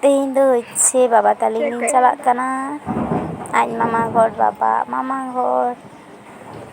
ᱛᱮᱦᱮᱧ ᱫᱚ ᱦᱚᱪᱪᱷᱮ ᱵᱟᱵᱟ ᱛᱟᱹᱞᱤᱧ ᱞᱤᱧ ᱪᱟᱞᱟᱜ ᱠᱟᱱᱟ ᱟᱡ ᱢᱟᱢᱟ ᱦᱚᱲ ᱵᱟᱵᱟ ᱢᱟᱢᱟ ᱦᱚᱲ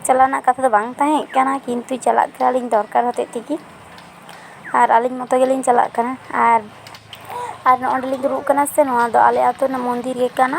ᱪᱟᱞᱟᱣ ᱨᱮᱱᱟᱜ ᱠᱟᱛᱷᱟ ᱫᱚ ᱵᱟᱝ ᱛᱟᱦᱮᱸ ᱠᱟᱱᱟ ᱠᱤᱱᱛᱩ ᱪᱟᱞᱟᱜ ᱠᱟᱱᱟᱞᱤᱧ ᱫᱚᱨᱠᱟᱨ ᱦᱚᱛᱮᱡ ᱛᱮᱜᱮ ᱟᱨ ᱟᱹᱞᱤᱧ ᱢᱚᱛᱚ ᱜᱮᱞᱤᱧ ᱪᱟᱞᱟᱜ ᱠᱟᱱᱟ ᱟᱨ ᱟᱨ ᱱᱚᱸᱰᱮᱞᱤᱧ ᱫᱩᱲᱩᱵ ᱠᱟᱱᱟ ᱥᱮ ᱱᱚᱣᱟ ᱫᱚ ᱟᱞᱮ ᱟᱹᱛᱩ ᱨᱮᱱᱟᱜ ᱢᱚᱱᱫᱤᱨ ᱜᱮ ᱠᱟᱱᱟ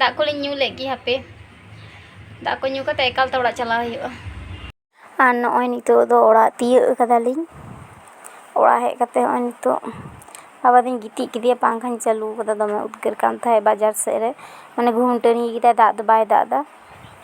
ᱫᱟᱜ ᱠᱚᱞᱤᱧ ᱧᱩ ᱞᱮᱫ ᱜᱮ ᱦᱟᱯᱮ ᱫᱟᱜ ᱠᱚ ᱧᱩ ᱠᱟᱛᱮ ᱮᱠᱟᱞ ᱛᱮ ᱚᱲᱟᱜ ᱪᱟᱞᱟᱣ ᱦᱩᱭᱩᱜᱼᱟ ᱟᱨ ᱱᱚᱜᱼᱚᱭ ᱱᱤᱛᱚᱜ ᱫᱚ ᱚᱲᱟᱜ ᱛᱤᱭᱟᱹᱜ ᱠᱟᱫᱟᱞᱤᱧ ᱚᱲᱟᱜ ᱦᱮᱡ ᱠᱟᱛᱮ ᱱᱚᱜᱼᱚᱭ ᱱᱤᱛᱚᱜ ᱟᱵᱟᱨ ᱫᱩᱧ ᱜᱤᱛᱤᱡ ᱠᱮᱫᱮᱭᱟ ᱯᱟᱝᱠᱷᱟᱧ ᱪᱟᱹᱞᱩ ᱠᱟᱫᱟ ᱫᱚᱢᱮ ᱩᱫᱽᱜᱟᱹᱨ ᱠᱟᱱ ᱛᱟᱦᱮᱸᱜ ᱵᱟᱡᱟᱨ ᱥᱮᱜ ᱨᱮ ᱢᱟᱱᱮ ᱜᱩᱢᱴᱟᱹᱱᱤ ᱠᱮᱫᱟᱭ ᱫᱟᱜ ᱫᱚ ᱵᱟᱭ ᱫᱟᱜ ᱫᱟ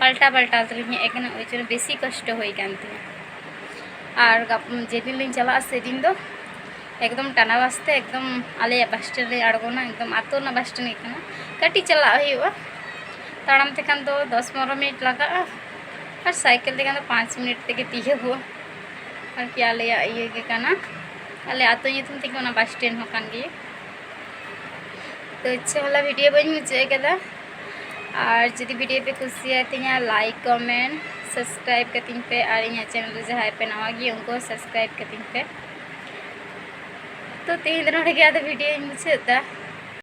ᱯᱟᱞᱴᱟᱣ ᱯᱟᱞᱴᱟᱣ ᱛᱮᱞᱤᱧ ᱦᱮᱡ ᱟᱠᱟᱱᱟ ᱳᱭ ᱡᱚᱱᱱᱚ ᱵᱮᱥᱤ ᱠᱚᱥᱴᱚ ᱦᱩᱭ ᱠᱟᱱ ᱛᱤᱧᱟᱹ ᱟᱨ ᱡᱮᱫᱤᱱ ᱞᱤᱧ ᱪᱟᱞᱟᱜᱼᱟ ᱥᱮᱫᱤᱱ ᱫᱚ ᱮᱠᱫᱚᱢ ᱴᱟᱱᱟ ᱵᱟᱥ ᱛᱮ ᱮᱠᱫᱚᱢ ᱟᱞᱮᱭᱟᱜ ᱵᱟᱥ ᱥᱴᱮᱱᱰ ᱨᱮ ᱟᱬᱜᱚᱱᱟ ᱮᱠᱫᱚᱢ ᱟᱛᱳ ᱨᱮᱱᱟᱜ ᱵᱟᱥ ᱥᱴᱮᱱᱰ ᱜᱮ ᱠᱟᱱᱟ ᱠᱟᱹᱴᱤᱡ ᱪᱟᱞᱟᱜ ᱦᱩᱭᱩᱜᱼᱟ ᱛᱟᱲᱟᱢ ᱛᱮᱠᱷᱟᱱ ᱫᱚ ᱫᱚᱥ ᱯᱚᱱᱨᱚ ᱢᱤᱱᱤᱴ ᱞᱟᱜᱟᱜᱼᱟ ᱟᱨ ᱥᱟᱭᱠᱮᱞ ᱛᱮᱠᱷᱟᱱ ᱫᱚ ᱯᱟᱸᱪ ᱢᱤᱱᱤᱴ ᱛᱮᱜᱮ ᱛᱤᱭᱳᱜᱚᱜᱼᱟ ᱟᱨᱠᱤ ᱟᱞᱮᱭᱟᱜ ᱤᱭᱟᱹ ᱜᱮ ᱠᱟᱱᱟ ᱟᱞᱮ ᱟᱛᱳ ᱧᱩᱛᱩᱢ ᱛᱮᱜᱮ ᱚᱱᱟ ᱵᱟᱥ ᱥᱴᱮᱱᱰ ᱦᱚᱸ ᱠᱟᱱ ᱜᱮᱭᱟ ᱛᱚ ᱤᱪᱪᱷᱟᱹ ᱵᱟᱞᱟ ᱵᱷᱤᱰᱤᱭᱳ ᱵᱟᱹᱧ ᱢᱩᱪᱟᱹᱫ ᱟᱠᱟᱫᱟ ᱟᱨ ᱡᱩᱫᱤ ᱵᱷᱤᱰᱤᱭᱳ ᱯᱮ ᱠᱩᱥᱤᱭᱟᱛᱤᱧᱟ ᱞᱟᱭᱤᱠ ᱠᱚᱢᱮᱱᱴ ᱥᱟᱵᱥᱠᱨᱟᱭᱤᱵ ᱠᱟᱹᱛᱤᱧ ᱯᱮ ᱟᱨ ᱤᱧᱟᱹᱜ ᱪᱮᱱᱮᱞ ᱨᱮ ᱡᱟᱦᱟᱸᱭ ᱯᱮ ᱱᱟᱣᱟ ᱜᱮ ᱩᱱᱠᱩ ᱦᱚᱸ ᱥᱟᱵᱥᱠᱨᱟᱭᱤᱵ ᱠᱟᱹᱛᱤᱧ ᱯᱮ ᱛᱚ ᱛᱮᱦᱮᱧ ᱫᱚ ᱱᱚᱰᱮ ᱜᱮ ᱟᱫᱚ ᱵᱷᱤᱰᱤᱭᱳᱧ ᱢᱩᱪᱟᱹᱫ ᱮᱫᱟ